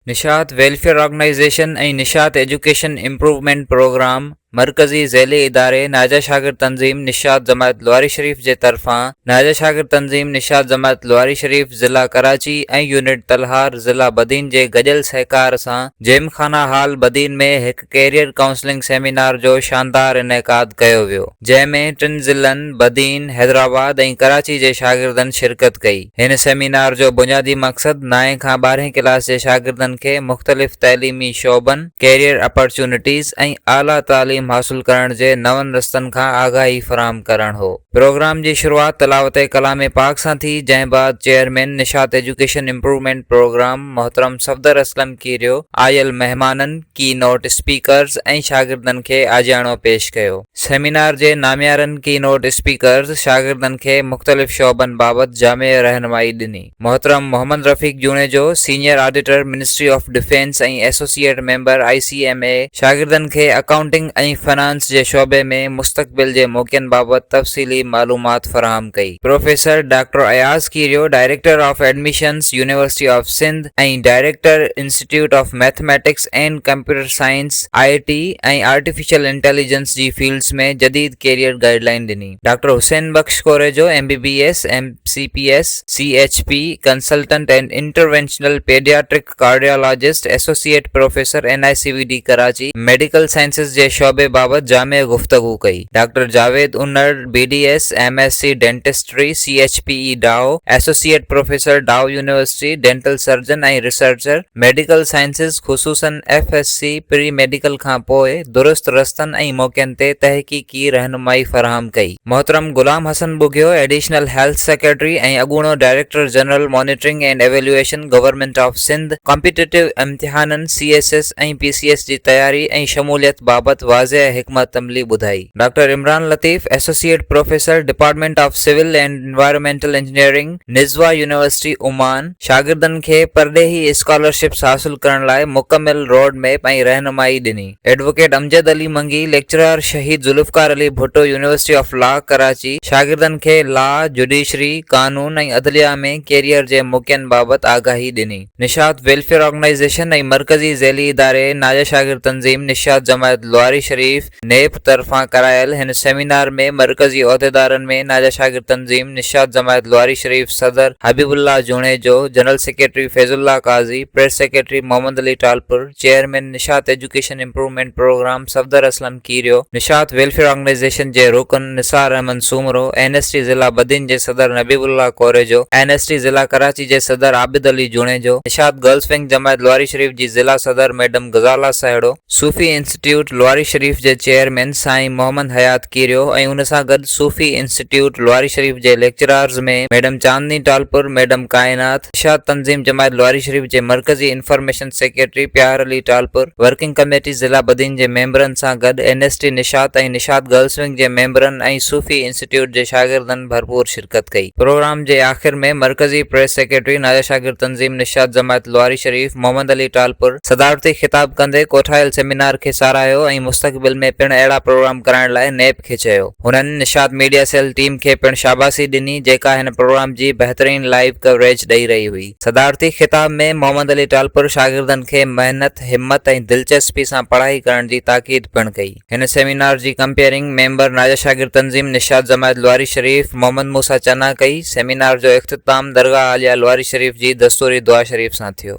نشاط welfare organisation ۽ Nishat education improvement programme مرڪزي ذيلي اداري ناجا شاگرد تنظيم نشاط جماعت لواري شريف جي طرفان ناجا شاگرد تنظيم نشاط جماعت لواري شريف ضلع ڪراچي ۽ يونٽ تلهار ضلع بدين جي گڏيل سهڪار سان جيم خانه هال بدين ۾ هڪ ڪيريئر ڪائونسلنگ سيمينار جو شاندار انعقاد ڪيو ويو، جنهن ۾ ٽن ضلعن بدين، حيدرآباد ۽ ڪراچي جي شاگردن شرڪت ڪئي. هن سيمينار جو بنيادي مقصد نائين کان ٻارهين ڪلاس جي شاگردن کي مختلف تعليمي شعبن، ڪيريئر اپارچونٽيز ۽ اعليٰ تعليم حاصل ڪرڻ جي نون رستن کان آگاهي فراهم ڪرڻ هو. پروگرام جي شروعات تلاوت ڪلام پاڪ سان ٿي، جنهن بعد chairman Nishat education improvement programme محترم صفدر اسلم ڪيريو آيل مهمانن، ڪي نوٽ اسپيڪرز ۽ شاگردن کي آجياڻو پيش ڪيو. سيمينار جي ناميارن ڪي نوٽ اسپيڪرز شاگردن کي مختلف شعبن بابت جامع رهنمائي ڏني. محترم Muhammad Rafiq Junejo, senior auditor ministry of defence ۽ associate member I C M A شاگردن کي اڪائونٽنگ ۽ فنانس جي شعبي ۾ مستقبل جي موقعن بابت تفصيلي معلومات فراهم ڪئي. Professor doctor Ayaz Kerio, director of admissions, university of Sindh, ۽ director institute of mathematics and computer science, I T ۽ artificial intelligence جي فيلڊز ۾ جديد ڪيريئر گائيڊ لائين ڏني. Doctor Hussain Bakhsh Korejo M B B S, M C P S, C H P, consultant and interventional paediatric cardiologist, associate professor N I C V D Karachi, medical sciences جي شعبي بابت جامع گفتگو ڪئي. Doctor Javed Unar, B D S, M S C dentistry, C H P E Dow, associate professor Dow university, dental surgeon ۽ researcher, medical sciences خصوصن F S C pre medical کان پوء درست رستن ۽ موقعن تي تحقيقي رهنمائي فراهم ڪئي. محترم Ghulam Hassan Bughio, additional health secretary ۽ اڳوڻو director general monitoring and evaluation government of Sindh, competitive امتحانن، سي ايس ايس، حيثيت ۽ پي سي ايس جي تياري ۽ شموليت بابت واضح حڪمت عملي ٻڌائي. Doctor Imran Latif associate professor department of civil and environmental engineering Nizwa university Oman شاگردن کي پرڏيهي اسڪالرشپس حاصل ڪرڻ لاء مڪمل روڊ ميپ ۽ رهنمائي ڏني، advocate Amjad Ali Mangi lecturer Shaheed Zulfikar Ali Bhutto university of law Karachi شاگردن کي لا، جوڊيشري، قانون ۽ عدليه ۾ ڪيريئر جي موقعن بابت آگاهي ڏني. نشاط ويلفيئر آرگنائيزيشن ۽ مرڪزي ذيلي اداري ناجا شاگرد تنظيم نشاط جماعت لواري شريف، نيب، طرفان ڪرايل هن سيمينار ۾ مرڪزي عهديدارن ۾ ناجا شاگرد تنظيم نشاط جماعت لواري شريف صدر Habib Ullah Junejo, general secretary Faiz Ullah Qazi, press secretary Muhammad Ali Talpur, chairman Nishat education improvement programme Safdar Aslam, Kerio, Nishat welfare organisation جي رڪن Nisar Ahmed Soomro, N S T ضلع بدين جي صدر Nabib Ullah Korejo, N S T ضلع ڪراچي جي صدر عابد علي جوڻيجو، نشاط گرلز ونگ جماعت لواري شريف جي ضلع صدر ميڊم غزالا سهيڙو، صوفي انسٽيٽيوٽ لواري شريف جي چيئرمين سائين محمد حيات ڪيريو ۽ ان سان گڏ صوفي انسٽيٽيوٽ لواري شريف جي lecturers ۾ madam Chandni Talpur, madam Kainat, اتحاد تنظيم جماعت لواري شريف جي مرڪزي انفارميشن سيڪريٽري پيار علي ٽالپر، ورڪنگ ڪميٽي ضلع بدين جي ميمبرن سان گڏ N S T Nishat ۽ Nishat girls wing جي ميمبرن ۽ صوفي انسٽيٽيوٽ جي شاگردن ڀرپور شرڪت ڪئي. پروگرام جي آخر ۾ مرڪزي پريس سيڪريٽري ناجا شاگرد تنظيم نشاط جماعت لواري شريف محمد علي ٽالپر صدارتي خطاب ڪندي ڪوٺايل سيمينار کي ساراهيو ۽ مستقبل ۾ پڻ اهڙا پروگرام ڪرائڻ لاء نيب کي چيو. هنن نشاط ميڊيا سيل ٽيم کي پڻ شاباسي ڏني جيڪا هن پروگرام جي بهترين لائيو ڪوريج ڏئي رهي هئي. صدارتي خطاب ۾ محمد علي ٽالپر شاگردن کي محنت، همت ۽ دلچسپي سان پڙهائي ڪرڻ جي تاڪيد پڻ ڪئي. هن سيمينار جي ڪمپيئرنگ ميمبر ناجا شاگرد تنظيم نشاط جماعت لواري شريف محمد موسيٰ چنا ڪئي. سيمينار جو اختتام درگاهه عاليه لواري شريف جي دستوري دعا شريف سان ٿيو.